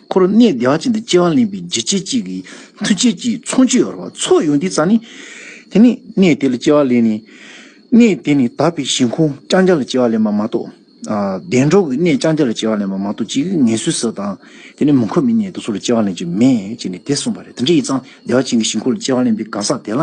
A: ཁོ་རང་གནས་བདེ་བ་ཅན་དུ་སྐྱེ་བ་ལེན་པའི་རྗེ་སྐྱིད་ཅིག་གི་མཐུ་ཆད་ཀྱི་ཚོང་ཆུ་ཡོད་རེད་བ། ཚོགས་ཡོད་འདི་ཙམ་ནི། དེ་ནི་གནས་དེ་ལ་སྐྱེ་བ་ལེན་ནི། གནས་དེ་ནི་དག་པའི་ཞིང་ཁོངས་རྐྱང་རྐྱང་ལ་སྐྱེ་བ་ལེན་པ་མ་གཏོགས། བདེ་འགྲོ་གི་གནས་རྐྱང་རྐྱང་ལ་སྐྱེ་བ་ལེན་པ་མ་གཏོགས་ཅིག་ངལ་གསོའི་ས་དང། དེ་ནི་མུ་འཁོར་མི་གནས་དེ་ཚོ་ལ་སྐྱེ་བ་ལེན་གྱི་མེད་ཅེས་ནས་དེ་གསུངས་པ་རེད་དེ་འདྲ་ཡིན་ཙང་བདེ་བ་ཅན་གྱི་ཞིང་ཁོངས་ལ་སྐྱེ་བ་ལེན་པའི་གང་ཟག་དེ་ལ།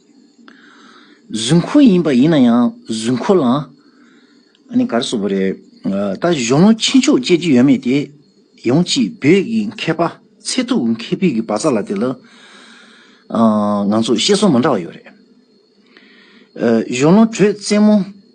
A: གཟུགས་འཁོར་ཡིན་པ་ཡིན་ན་ཡང་གཟུགས་འཁོར་ལའང། ནི་གར་སོགས་པ་རེད། ད་གཞོན་ནུ་ཆེ་མཆོག་བཅས་ཀྱི་ཡོད་མེད་དེ། ཡང་ཅིག་བོད་ཀྱི་མཁས་པ་ཚད་ཐུབ་མཁས་པའི་གི་བ་ཚ་ལ་དེ་ལ། ང་ཚོ་བཤད་སྲོལ་མ་འདྲ་བ་ཡོད་རེད། གཞོན་ནུ་དྲོད་རྩེ་མོ།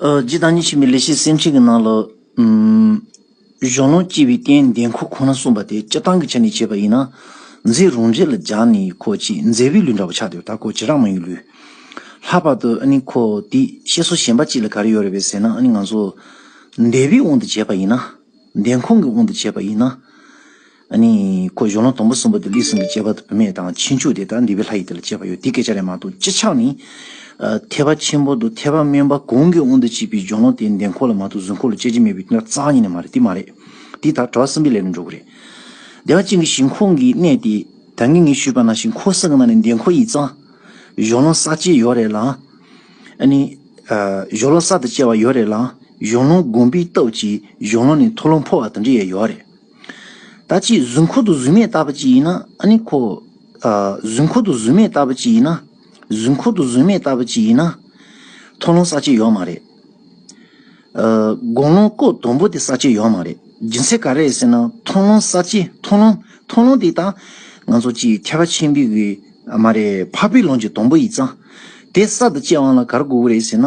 A: རྗེ་བདག་ཉིད་ཆེན་པོའི་ལས་བྱེད་སེམས་ཅན་གྱི་ནང་ལ། གཞོན་ནུ་སྐྱེས་པའི་སྟན་འདེགས་འཁོར་ཁོ་ན་གསུངས་པ་དེ་སྤྱིར་བཏང་གི་ཆ་ནས་བྱས་པ་ཡིན་ན། མཛེས་རུང་རྗེ་ལ་སྦྱར་ནས་འཁོར་གྱི་མཛེས་པའི་ལུས་འདྲ་བ་ཆགས་ཏེ་ད་འཁོར་བྱེད་རང་མ་ཡིན་ལུས། ལྷག་པར་དུ་ཨ་ནི་འཁོར་འདི་བཤད་སྲོལ་གཞན་པ་ཅིག་ལ་ག་རེ་ཡོད་རེད་བས་ཟེར་ན་ཨ་ནི་ང་ཚོ། འདས་པའི་དབང་དུ་བྱས་པ་ཡིན་ན། འདས་འཁོར་གྱི་དབང་དུ་བྱས་པ་ཡིན་ན། ནི། ཁོ་གཞོན་ལུང་དང་པོ་གསུམ་པ་དུ་ལི་སིང་གི་སྐྱེས་པ་དང་བུད་མེད་དང་ཕྱིན་ཆུ་དེ་དག་འདི་བའི་ལྷ་ཡི་དེ་ལ་སྐྱེས་པ་ཡོད་དེ་སྐད་ཆ་ལས་མ་གཏོགས་སྤྱི་ཆགས་ནི། ཐེག་པ་ཆེན་པོ་དང་ཐེག་པ་དམན་པ་གང་གི་དབང་དུ་བྱས་པའི་གཞོན་ལུང་དེ་འདན་འཁོར་ལ་མ་གཏོགས་གཟུགས་འཁོར་ལ་སྐྱེ་རྒྱུ་མེད་པའི་དོན་རྩ་ཉིད་ནས་མ་རེད་དེ་མ་རེད། དེ་དག་གྲྭ་བ་གསུམ་པའི་ལས་ལ་འགྲོ་གི་རེད། སྡེ་བ་གཅིག་གི་ཞིང་ཁོངས་ཀྱི་གནས་དེ་ད་ངེས་ངེས་ཤོད་པ་ན་ཞིང་ཁོངས་སེང་གི་ནང་ནས་འདན་འཁོར་ཡིག་ཚང། གཞོན་ལུང་ས་སྐྱེས་ཡོད་རེད་ལ། ནི། གཞོན་ལུང་ས་དང་བཅས་བ་ཡོད་རེད་ལ། གཞོན་ལུང་དགོན་པའི་སྟོབས་ཀྱིས་གཞོན་ལུང་ནས་འཐོར་ལོངས་འཕོ་བ་དང་འདྲེ་ཡས་ཡོད་རེད། ད་ཅི་གཟུགས་འཁོར་དུ་གཟུགས་མེད་ལྟ་བུ་ཅི་ཡིན་ན་ཨ་ནི་ཁོ། གཟུགས་འཁོར་དུ་གཟུགས་མེད་ལྟ་བུ་ཅི་ཡིན་ན། གཟུགས་འཁོར་དུ་གཟུགས་མེད་ལྟ་བུ་ཅི་ཡིན་ན། མཐོང་ལོང་ས་བཅད་ཡོད་མ་རེད། དགོངས་ལོང་ལྐོག་དོམ་པོ་དེ་ས་བཅད་ཡོད་མ་རེད། རྒྱུ་མཚན་ག་རེད་ཟེར་ན་མཐོང་ལོང་ས་བཅད་མཐོང་ལོང་མཐོང་ལོང་དེ་དང། ང་ཚོ་སྤྱི་ཡི་ཐེག་པ་ཆེན་པོའི་གི་མ་རེད་འཕགས་པའི་ལུང་གི་དོམ་པོ་ཡི་རྩ། དེ་ས་དང་བཅད་དབང་ལ་གར་དགོས་ཀི་རེད་ཟེར་ན།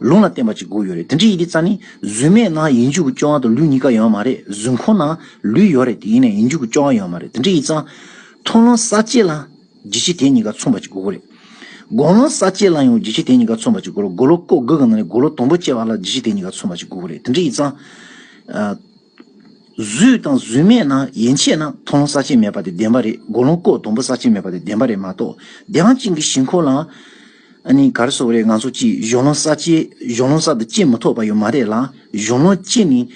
A: ལུང་ལ་བརྟེན་པ་གཅིག་དགུ་ཡོད་རེད་དེ་འདྲའི་ཡི་གེ་རྩ་ནི་གཟུགས་མེད་ན་ཡིད་འཇུག་གི་སྐྱོ་བ་དང་ལུས་གཉིས་ཀ་ཡོད་མ་རེད་གཟུགས་འཁོར་ན་ལུས་ཡོད་རེད་དེ་ཡིན་ནས་ཡིད་འཇུག་གི་སྐྱོ་བ་ཡོད་མ་རེད་དེ་འདྲའི་ཡི་རྩ། མཐོང་ལམ་ས་བཅད་ལ་འཇིགས་བྱེད་དེ་གཉིས་ཀ་མཚུངས་པ་གཅིག་དགུ་དགུ་རེད། དགོངས་ལམ་ས་བཅད་ལ་ཡང་འཇིགས་བྱེད་དེ་གཉིས་ཀ་མཚུངས་པ་གཅིག་དགུ་རེད་དགུ་ལོ་ཀོ་དགུ་གི་ནང་ནས་དགུ་ལོ་དང་པོ་བཅད་པ་ལ་འཇིགས་བྱེད་དེ་གཉིས་ཀ་མཚུངས་པ་གཅིག་དགུ་དགུ་རེད་དེ་འདྲའི་ཡི་རྩ། བཟོས་དང་བཟོས་མེད་ན་ཡན་ཆད་ན་མཐོང་ལོང་ས་ཆེན་མེད་པ་དེ་བདེན་པ་རེད་མགོ་ལོང་ལྐོག་དོམ་པོ་ས་ཆེན་མེད་པ་དེ་བདེན་པ་རེད་མ་གཏོགས་བདེན་དབང་ཅན་གྱི་ཞིང་ཁོ་ལ་ཨ་ནི་ག་རེ་སོགས་རེད་ང་ཚོ་ཅིས་གཞོན་ལོང་ས་ཅེས་གཞོན་ལོང་ས་དང་ཅེས་མི་ཐོགས་པ་ཡོད་མ་རེད་ལ་གཞོན་ལོང་ཅེས་ནི་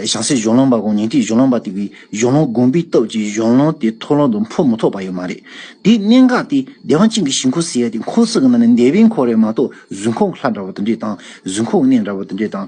A: ཞང་སེ་གཞོན་ལོང་པ་དགོངས་ཉིན་ཏིག་གཞོན་ལོང་པ་དེ་གི་གཞོན་ལོང་དགོངས་པའི་སྟོབས་ཀྱིས་གཞོན་ལོང་དེ་ཐོག་ལོང་དུ་འཕོ་མི་ཐོགས་པ་ཡོད་མ་རེད་དེའི་གནད་འགག་དེ་བདེན་དབང་ཅན་གྱི་ཞིང་ཁོ་ཟེར་ཡ་དེ་འཁོར་ཚུགས་ཀྱི་ནང་ནས་འདས་པའི་འཁོར་རེད་མ་གཏོགས་གཟུགས་འཁོར་ལྷ་འདྲ་བོ་དེ་འདྲས་དང་གཟུགས་འཁོར་གནས་འདྲ་བོ་དེ་འདྲས་དང།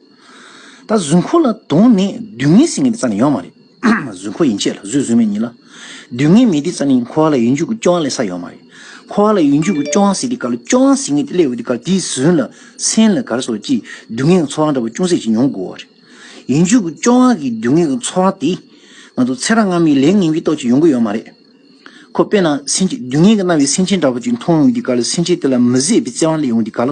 A: ད་གཟུགས་འཁོར་ལ་དོང་ནས་སྡུག་བསྔལ་སེལ་ངེས་པའི་རྩ་ནི་ཡོད་མ་རེད། གཟུགས་འཁོར་ཡིན་ཆད་ལ་གཟུགས་གཟུགས་མེད་ཉིད་ལ། སྡུག་བསྔལ་མེད་དེའི་རྩ་ནི་འཁོར་བ་ལ་ཡུལ་འཇུག་གི་སྐྱོ་བ་ལས་ས་ཡོད་མ་རེད། འཁོར་བ་ལ་ཡུལ་འཇུག་གི་སྐྱོ་བ་སེལ་དེ་ག་ལ་སྐྱོ་བ་སེལ་ངེས་དེ་སླད་འོས་དེ་གར་དེ་ཟོན་ལ་སེམས་ལ་གར་སོགས་ཀྱིས་སྡུག་བསྔལ་གྱི་ཚོར་བ་འདྲ་པོ་ཅུང་ཟད་ཅིག་མྱོང་དགོས་བ་རེད། ཡུལ་འཇུག་གི་སྐྱོ་བ་གིས་སྡུག་བསྔལ་གྱི་ཚོར་བ་དེ། ང་ཚོ་ཚེ་རབས་སྔ་མའི་ལས་ངན་གྱིས་རྟོགས་ཅིག་ཡོང་གི་ཡོད་མ་རེད། ཁོ་དཔེར་ན་སེམས་ཅན་སྡུག་བསྔལ་གྱི་རྣ་བའི་སེམས་ཅན་འདྲ་པོ་ཅིག་མཐོང་ཡོང་དེ་ག་ལ་སེམས་ཅན་དེ་ལ་མི་བཟད་པའི་བརྩེ་བ་སླེབས་ཡོང་དེ་ག་ལ།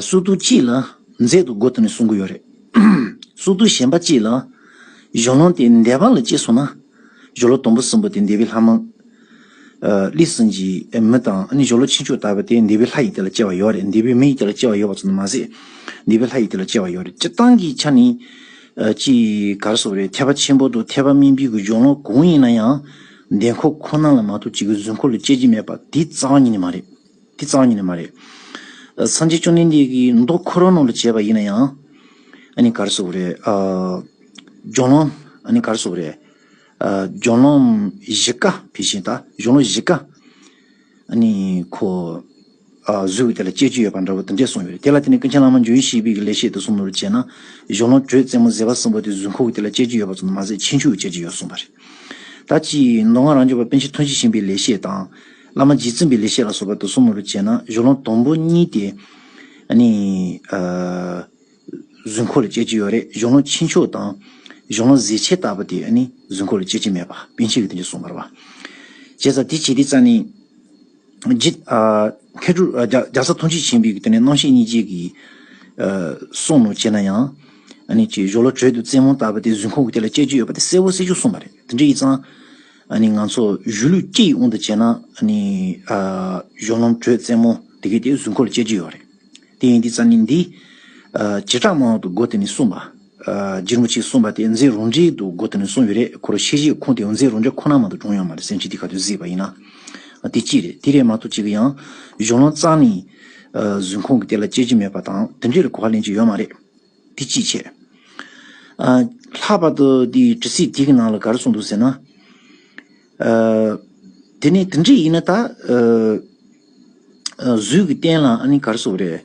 A: སུག་རྡུལ་གཅིག་ལ་མཛེས་སྡུག་དགུ་དང་ནི་སུམ་དགུ་ཡོད་རེད། སུག་རྡུལ་གཞན་པ་གཅིག་ལ། གཞོན་ལུང་དེ་འདས་པ་ལ་གཅེས་སོང་ན། གཞོན་ལུ་དུམ་བུ་གསུམ་པོ་དེ་འདས་པའི་ལྷ་མོ། ལི་སུན་གྱི་མི་དང་ནི་གཞོན་ལུ་ཆེ་མཆོག་ལྟ་བུ་དེ་འདས་པའི་ལྷ་ཡི་དེ་ལ་གཅེས་བ་ཡོད་རེད་འདས་པའི་མི་ཡི་དེ་ལ་གཅེས་བ་ཡོད་པ་ཙམ་དུ་མ་ཟད། འདས་པའི་ལྷ་ཡི་དེ་ལ་གཅེས་བ་ཡོད་རེད་སྤྱིར་བཏང་གི་ཆ་ནི། ཅི་གར་སོགས་རེད་ཐེག་པ་ཆེན་པོ་དང་ཐེག་པ་དམན་པའི་གཞོན་ལུང་གང་ཡིན་ན་ཡང། འདས་འཁོར་ཁོ་ན་ལ་མ་གཏོགས་གཅིག་གི་གཟུགས་འཁོར་ལ་གཅེས་ཀྱི་མེད་པ་དེའི་རྩ་བ་ཉིད་ནི་མ་རེད། དེ་གཙང་ཉིད་ནི་མ་རེད། སངས་རྒྱས་བཅོམ་ལྡན་འདས་ཀྱིས་མདོ་ཁོ་རང་ནང་དུ་བྱས་པ་ཡིན་ན་ཡང། ཨཱ་ནི་གར་སོགས་པ་རེད། ལྗོངས་ལོ། ཨཱ་ནི་གར་སོགས་པ་རེད། ལྗོངས་ལོ་བཞི་ཀ་དེ་བཞིན་དང་ལྗོངས་ལོ་བཞི་ཀ། ཨཱ་ནི་ཁོ། གཟུགས་ཀྱི་དེ་ལ་སྤྱད་རྒྱུ་ཡོད་པ་འདྲ་བོ་དེ་འདྲས་གསུངས་ཡོད་རེད། དེ་ལ་བརྟེན་ནས་ཀུན་མཁྱེན་བླ་མ་འཇུ་ཡེ་ཤེས་དཔལ་གྱི་ལེགས་བཤད་དུ་གསུངས་པ་ལྟར་བྱས་ན། ལྗོངས་ལོ་དྲོད་རྩེ་མོ་གཟེར་བ་གསུམ་པོ་དེ་གཟུགས་ཁུག་གི་དེ་ལ་སྤྱད་རྒྱུ་ཡོད་པ་ཙམ་དུ་མ་ཟད་ཕྱིན་ཆུ་ཡང་སྤྱད་རྒྱུ་ཡོད་གསུངས་པ་རེད། ད་ཅིའི་མདོ་སྔགས་རང་རྒྱུད་པ་དཔལ་ཆེན་ཐུགས་རྗེ་ཆེན་པོའི་ལེགས་བཤད་དང། བླ་མ་རྗེ་བཙུན་པའི་ལེགས་བཤད་ལ་སོགས་པ་དུག་གསུམ་མེད་པར་བྱས་ན་གཞུ་ལོང་དང་པོ་གཉིས་དེ། གཟུགས་འཁོར་ལ་སྤྱད་ཀྱི་ཡོད་རེད་གཞུ་ལོང་ཕྱི་མཆོད་དང། གཞུ་ལོང་གཟི་བྱས་བཏབ་པ་དེ་གཟུགས་འཁོར་ལ་སྤྱད་ཀྱི་མེད་པ་པཎ་ཆེན་གྱིས་དེ་འདྲ་གསུངས་པར་བ། བྱས་ཙང་དེ་བྱས་དེ་ཙང་ནི། རྒྱ་བཟའ་ཐུགས་རྗེ་ཆེན་པོས་དེ་ནི་རྣམ་ཤེས་གཉིས་སྤྱད་ཀྱི། གསུངས་ནོ་བྱས་ན་ཡང། གཞུ་ལོ་དྲོད་དུ་རྩེད་མོ་བཏབ་པ་དེ་གཟུགས་འཁོར་གྱི་དེ་ལ་སྤྱད་ཀྱི་ཡོད་པ་དེ་གསལ་བོ་གསལ་ཆོག་གསུངས་པ་རེད་དེ་འདྲ་ཡིན་ཙང། ང་ཚོ་གཞུ་ལུས་སྐྱེ་ཡི་དབང་དུ་བྱས་ན། གཞུང་ལམ་དྲོད་བཙན་མོ་དེ་གས་དེའི་གཟུགས་འཁོར་ལ་སྤྱད་ཀྱི་ཡོད་རེད། དེ་ཡིན་དུས་རྩ་གནས་འདི། བྱེ་བྲག་མང་བ་དུ་སྒོ་དེ་ནས་གསུངས་པ། རྗེ་རིན་པོ་ཆེས་གསུངས་པ་དེ་མཛེས་རོང་འདྲའི་དུ་སྒོ་དེ་ནས་གསུངས་ཡོད་རེད་ཁོ་རང་ཤེས་བཞེད་ཁུངས་དེ་ཡང་མཛེས་རོང་འདྲ་ཁོ་ན་མ་གཏོགས་བགྲོངས་ཡོང་མ་རེད་སེམས་ཤིང་དེ་ག་དུས་བཟོས་པ་ཡིན་ན། དེ་གཅིག་རེད་དེ་རེད་མ་གཏོགས་གཅིག་གི་ཡང། གཞུང་ལམ་རྩ་གནས། གཟུགས་འཁོར་གྱི་དེ་ལ་སྤྱད་ཀྱི་མེད་པ་དང་དེ་འདྲའི་ལ་གོ་བ་ལེན་གྱི་ཡོད་མ་རེད། འདི་ཅིས་བྱས། ལྷག་པར་དུ་འདི་ཇི་སྲིད་འདི་གི་ནང་ལ་ག་རེ་གསུངས་འདུག་ཟེར་ན། དེ་ནི་དེ་འདྲས་ཡིན་ན་ད། གཟུགས་ཀྱི་རྟེན་ལ་ཨ་ནི་ག་རེ་བཟོ་བ་རེད།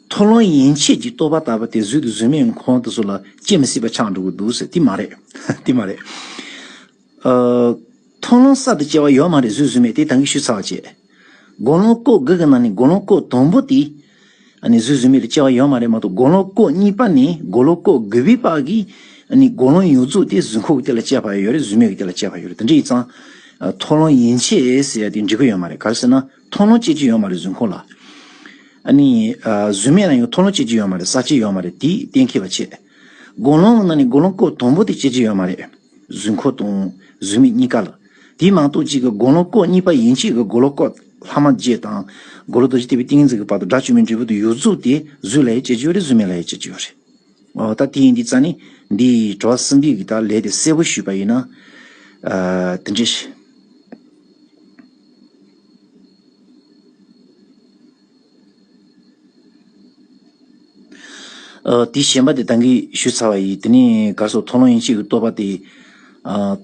A: མཐོ་ལོང་ཡན་ཆད་ཀྱི་རྟོག་པ་ལྟ་བུ་དེ་གཟུགས་དེ་གཟུགས་མེད་ཁོང་དུ་སོང་ལ་སྐྱེ་མི་སྲིད་པ་ཆགས་འགྲོ་གི་འདུག་ཟེར་འདི་མ་རེད། འདི་མ་རེད། མཐོང་ལོང་གསར་དུ་སྐྱེ་བ་ཡོད་མ་རེད་བཟོས་བཟོས་མེད་དེ་ད་གིས་ཤུ་ཚར་བ་བྱས། དགོང་ལོང་སྐོག་དགུ་གི་ནང་ནས་དགོང་ལོང་སྐོག་དང་པོ་དེ་ནི་བཟོས་བཟོས་མེད་དུ་སྐྱེ་བ་ཡོད་མ་རེད་མ་གཏོགས་དགོང་ལོང་སྐོག་གཉིས་པ་ནས་དགོང་ལོང་སྐོག་དགུ་བའི་བར་གྱི་ནི་དགོང་ལོང་ཡོད་རྫུགས་དེ་བཟོས་ཁོག་གི་དེ་ལ་སྐྱེ་བ་ཡོད་རེད་བཟོས་མེད་གི་དེ་ལ་སྐྱེ་བ་ཡོད་རེད་དེ་འདྲ་ཡིག་ཚང་མཐོང་ལོང་ཡིན་ཆེད་ཟེར་ཡ་དེ་འབྲི་གི་ཡོད་མ་རེད་ག་རེ་ཟེར་ན་མཐོང་ལོང་སྐྱེ་གི་ཡོད་མ་རེད་བཟོས་ཁོག་ལ་ནི་བཟོས་མེད་ན་ཡང་མཐོང་ལོང་སྐྱེ་གི་ཡོད་མ་རེད་ཟ་གི་ཡོད་མ་རེད་དེ་གཏན་འཁེལ་བ་བྱས། དགོན་སློང་ནང་ནས་དགོན་སློང་སྐོར་དང་པོ་དེ་སྐྱེ་རྒྱུ་ཡོད་མ་རེད། གཟུགས་འཁོར་དང་གཟུགས་མེད་གཉིས་ཀ་ལ། དེའི་ནང་སྟོད་གཅིག་གི་དགོན་སློང་སྐོར་གཉིས་པ་ཡན་ཆད་ཀྱི་དགོན་སློང་སྐོར་ལྷག་མ་བརྒྱད་དང། དགོན་ལོ་རྡོ་རྗེ་ལྟེ་བའི་ཏིང་ངེ་འཛིན་གྱི་བར་དུ་དགྲ་བཅོམ་མའི་འབྲས་བུ་དུ་ཡུར་རྫོགས་ཏེ་གཟུགས་ལ་ཡང་སྐྱེ་རྒྱུ་ཡོད་རེད་གཟུགས་མེད་ལ་ཡང་སྐྱེ་རྒྱུ་ཡོད་རེད། འོ་ད་དེ་ཡིན་དུས་རྩ་ནས་འདིའི་བྲོ་བ་གསུམ་པའི་གི་དག་ལས་དེ་གསལ་བོ་ཞུས་པ་ཡིན་ན། དེ་འདྲས་ཤེས། དེའི་ཞེན་པ་དེ་བདག་གིས་ཞུས་ཚར་བ་ཡིས་དེ་ནི་གར་སོགས་མཐོང་ལམ་ཡིན་ཕྱིར་གྱི་རྟོག་པ་དེ།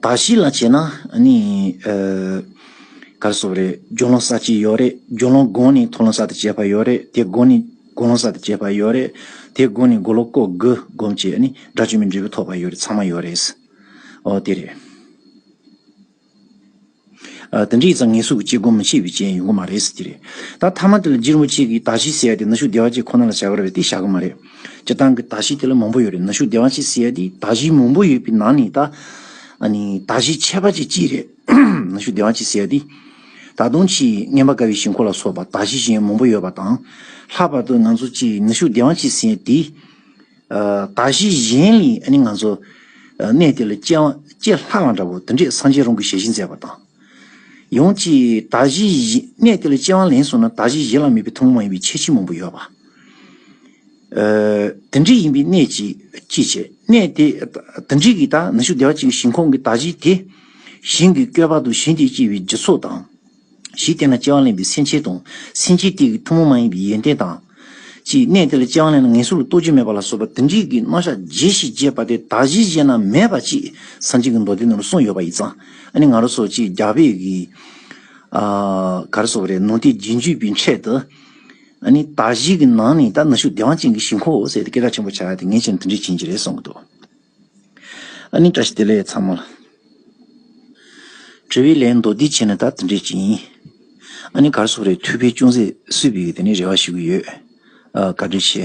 A: དག་ཞིག་ལ་བྱས་ན་ནི། གར་སོགས་རེད་སྦྱོར་ལམ་ས་ཅིག་ཡོད་རེད་སྦྱོར་ལམ་སྒོ་ནས་མཐོང་ལམ་ས་དེ་བྱས་པ་ཡོད་རེད་དེ་སྒོ་ནས་སྒོ་ལམ་ས་དེ་བྱས་པ་ཡོད་རེད་དེ་སྒོ་ནས་སྒོ་ལོག་ཀོ་དགུ་སྒོམ་བྱས་ནི་སྒྲ་བཅོས་མའི་འབྲས་བུ་ཐོབ་པ་ཡོད་རེད་ཚང་མ་ཡོད་རེད། འོ་དེ་རེད། དེ་འདྲའི་ཙང་ངེད་གཟུགས་ཀྱི་ཅི་སྒོམ་བྱེད་པའི་རྐྱེན་ཡོང་གི་མ་རེད་ཟེར་གྱི་རེད། ད་ཐ་མ་དེ་ལ་སྒྱིར་མོ་གཅིག་གིས་དག་ཞིག་བསད་དེ་ནུ་ཞོ་སྡེ་བ་གཅིག་ཁོ་ན་ལ་བྱ་གར་བས་དེ་བཞག་གི་མ་རེད། སྤྱིར་བཏང་གི་དག་ཞིག་དེ་ལ་མང་པོ་ཡོད་རེད་ནུ་ཞོ་སྡེ་བ་གཅིག་བསད་དེ་དག་ཞིག་མང་པོ་ཡོད་པའི་ནང་ནས་ད། དག་ཞིག་ཆད་པ་གཅིག་ཅི་རེད། ནུ་ཞོ་སྡེ་བ་གཅིག་བསད་དེ། ད་དུང་ཆེས་རྔན་པ་དཀའ་བའི་ཞིང་འཁོར་ལ་སོགས་པ་དག་ཞིག་གཞན་མང་པོ་ཡོད་པ་དང། ལྷག་པར་དུ་ནང་ཚོ་གཅིག་ནུ་ཞོ་སྡེ་བ་གཅིག་བསད་དེ། ད་གཞི་གཞན་ལས་ནི་ང་ཚོ་གནས་དེ་ལ་སྐྱེ་ལྷག་ལ་འདྲ་བོ་འདི་འདྲས་སངས་རྒྱས་རང་གི་ཞལ་བཞིན་མཛད་པ་དང། ཡང་ཅིག་ད་གཞི་གནས་དེ་ལ་སྐྱེ་བ་ལན་སོང་ན་ད་གཞི་གཞི་ལ་མེད་པའི་ཐུན་མོང་མ་ཡིན་པའི་ཁྱད་ཆོས་མང་པོ་ཡོད་པ། དེ་འདྲས་ཡིན་པའི་གནས་ཅིག་ཅི་བྱེད་གནས་དེ་དེ་འདྲས་ཀྱི་ད་ནི་ཤུགས་བདེ་བ་ཅིག་ཞིང་ཁོང་གི་ད་གཞི་དེ་ཞིང་གི་བསྐལ་པ་དུ་ཞིང་དེ་སྐྱེ་བའི་རྒྱུ་ཚོགས་དང། གཞི་དེ་ན་སྤྱན་དབང་ལེན་པའི་སེམས་ཅན་དང། སེམས་ཅན་དེ་ཡི་ཐུན་མོང་མ་ཡིན་པའི་ཡོན་ཏན་དང། ཅི། གནས་དེ་ལ་སྤྱན་དབང་ལེན་ན་ངན་སོང་ལ་ལྟོ་འཕྱེ་མེད་པ་ལ་སོགས་པ་དེ་འདྲིས་ཀྱི་རྣམ་གཞག་རྗེས་ཤེས་རྗེས་དཔག་དེ་དག་གཞི་ཅན་ན་མེད་པ་ཅིག་སངས་རྒྱས་ཀྱི་མདོ་སྡེ་རྣམས་ལ་གསུངས་ཡོད་པ་ཡིས་ཙང་ཨ་ནི་ང་རོ་སོགས་ཅིག་རྒྱ་བོད་ཀྱི། གར་སོགས་རེ་ནོ་ཏི་རྗེས་འཇུག་པའི་འཕྲལ་དུ། ཨ་ནི་དག་གཞི་གི་ནང་ནས་ད་ནི་ཤུགས་བདེ་བ་ཅན་གྱི་ཞིང་ཁོ་བོ་ཟེར་ཏེ་སྐད་གྲགས་ཆེན་པོ་བྱ་སྟེ་ངེས་ཅན་དུ་འདྲི་བྱེད་ཀྱི་རེད་གསུངས་ཀྱི་འདུག། ཨ་ནི་བཀྲ་ཤིས་བདེ་ལེགས་ཚང་མ་ལ། དྲི་བའི་ལན་མདོ་འདི་བྱས་ན་ད་དེ་འདྲས་ཅིག་ཡིན། ཨ་ནི་གར་སོགས་རེད་ཐུགས་ཕན་ཅུང་ཟད་གསོས་པའི་དེ་ནས་རེ་བ་ཞུ་གི་ཡོད། དགའ་འབྲེལ་ཆེ།